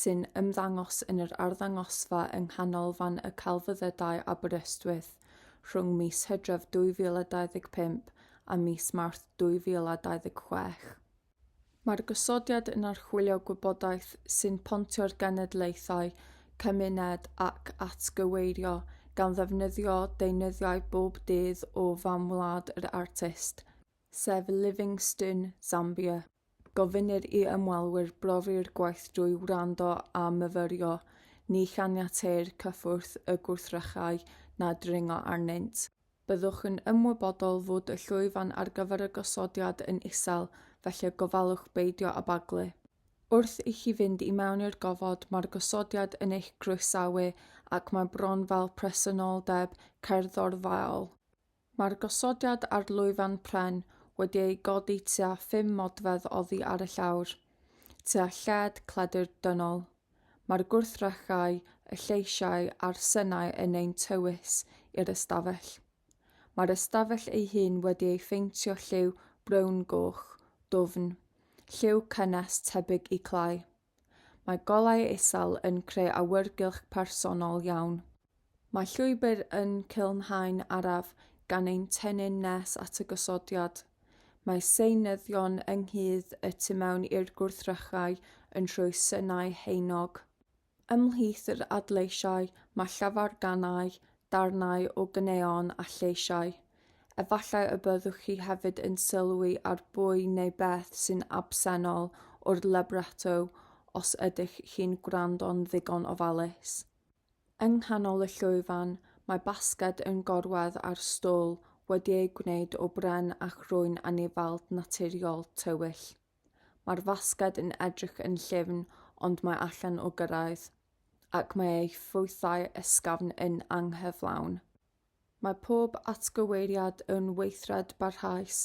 sy'n ymddangos yn yr arddangosfa yng Nghanolfan y Celfyddydau Aberystwyth rhwng mis Hydref 2025 a mis Mawrth 2026. Mae'r gosodiad yn archwilio gwybodaeth sy'n pontio'r genedlaethau, cymuned ac atgyweirio gan ddefnyddio deunyddiau bob dydd o fam wlad yr artist, sef Livingstone, Zambia. Gofynnir i ymwelwyr brofi'r gwaith drwy wrando a myfyrio, ni chaniateir cyffwrdd y gwrthrychau na dringo arnynt. Byddwch yn ymwybodol fod y llwyfan ar gyfer y gosodiad yn isel, felly gofalwch beidio â baglu. Wrth i chi fynd i mewn i'r gofod, mae'r gosodiad yn eich croesawu ac mae bron fel presenoldeb cerddorfaol. Mae'r gosodiad ar lwyfan pren wedi ei godi tua phum modfedd oddi ar y llawr, tua lled cledr dynol. Mae'r gwrthrychau, y lleisiau a'r synau yn ein tywys i'r ystafell. Mae'r ystafell ei hun wedi ei pheintio lliw brown-goch, dwfn, lliw cynnes tebyg i clai. Mae golau isel yn creu awyrgylch personol iawn. Mae llwybr yn culmhau'n araf gan ein tennyn nes at y gosodiad. Mae seunyddion ynghudd y tu mewn i'r gwrthrychau yn rhoi synau haenog. Ymhlith yr adleisiau mae llafarganau, darnau o gneon a lleisiau. Efallai y byddwch chi hefyd yn sylwi ar bwy neu beth sy'n absennol o'r libretto os ydych chi'n gwrando'n ddigon ofalus. Yng nghanol y llwyfan, mae basged yn gorwedd ar stôl wedi ei gwneud o bren a chrwyn anifald naturiol tywyll. Mae'r fasged yn edrych yn llyfn ond mae allan o gyrraedd, ac mae ei ffrwythau ysgafn yn anghyflawn. Mae pob atgyweiriad yn weithred barhaus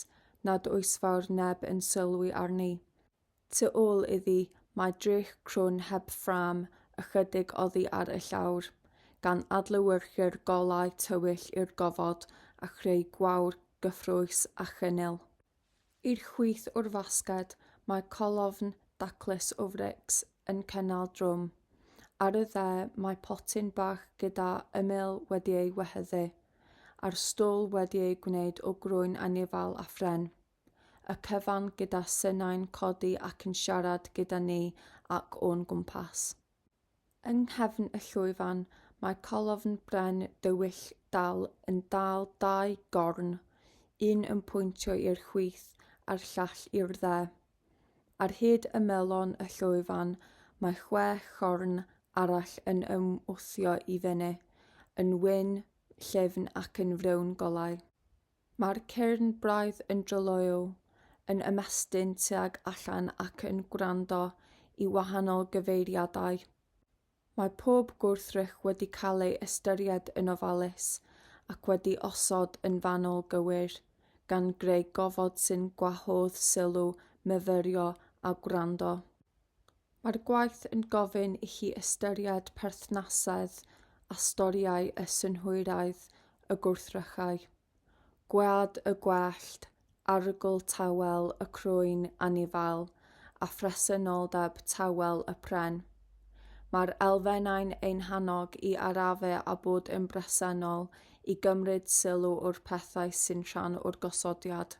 nad oes fawr neb yn sylwi arni. Tu ôl iddi mae drych crwn heb ffrâm ychydig oddi ar y llawr, gan adlewyrchu'r golau tywyll i'r gofod a chreu gwawr gyffrous a chynnil. I'r chwith o'r fasged mae colofn daclus o frics yn cynnal drwm. Ar y dde mae potyn bach gyda ymyl wedi ei wehyddu, a'r stôl wedi ei gwneud o grwyn anifail a phren. Y cyfan gyda synau'n codi ac yn siarad gyda ni ac o'n gwmpas. Yng nghefn y llwyfan mae colofn bren dywyll dal yn dal dau gorn, un yn pwyntio i'r chwith a'r llall i'r dde. Ar hyd ymelon y llwyfan mae chwe chorn arall yn ymwthio i fyny, yn wyn, llyfn ac yn frown golau. Mae'r cyrn braidd yn dryloyw, yn ymestyn tuag allan ac yn gwrando i wahanol gyfeiriadau. Mae pob gwrthrych wedi cael ei ystyried yn ofalus ac wedi osod yn fanwl gywir, gan greu gofod sy'n gwahodd sylw myfyrio a gwrando. Mae'r gwaith yn gofyn i chi ystyried perthnasedd a storïau y synhwyraidd y gwrthrychau, gwead y gwellt, arogl tawel y crwyn anifail a phresenoldeb tawel y pren. Mae'r elfennau'n ein hannog i arafu a bod yn bresennol i gymryd sylw o'r pethau sy'n rhan o'r gosodiad.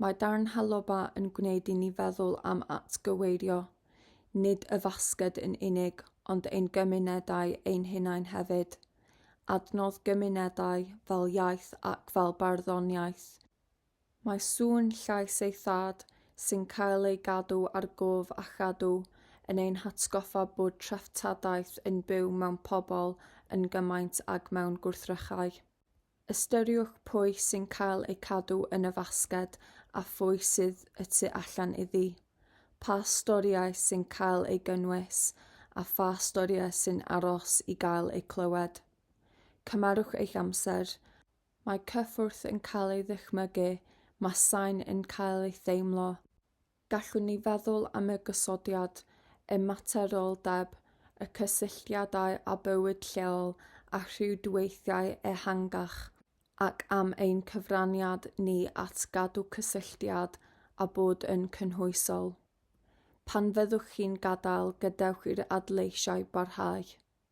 Mae darn Haloba yn gwneud i ni feddwl am atgyweirio, nid y fasged yn unig, ond ein gymunedau ein hunain hefyd. Adnodd gymunedau, fel iaith ac fel barddoniaeth. Mae sŵn llais ei thad, sy'n cael ei gadw ar gof a chadw, yn ein hatgoffa bod treftadaeth yn byw mewn pobl yn gymaint ag mewn gwrthrychau. Ystyriwch pwy sy'n cael eu cadw yn y fasged a phwy sydd y tu allan iddi. Pa storïau sy'n cael eu gynnwys a pha storïau sy'n aros i gael eu clywed. Cymerwch eich amser. Mae cyffwrdd yn cael ei ddychmygu, mae sain yn cael ei theimlo. Gallwn ni feddwl am y gosodiad ymateroldeb, y cysylltiadau â bywyd lleol a rhwydweithiau ehangach, ac am ein cyfraniad ni at gadw cysylltiad a bod yn cynhwysol. Pan fyddwch chi'n gadael, gadewch i'r adleisiau barhau.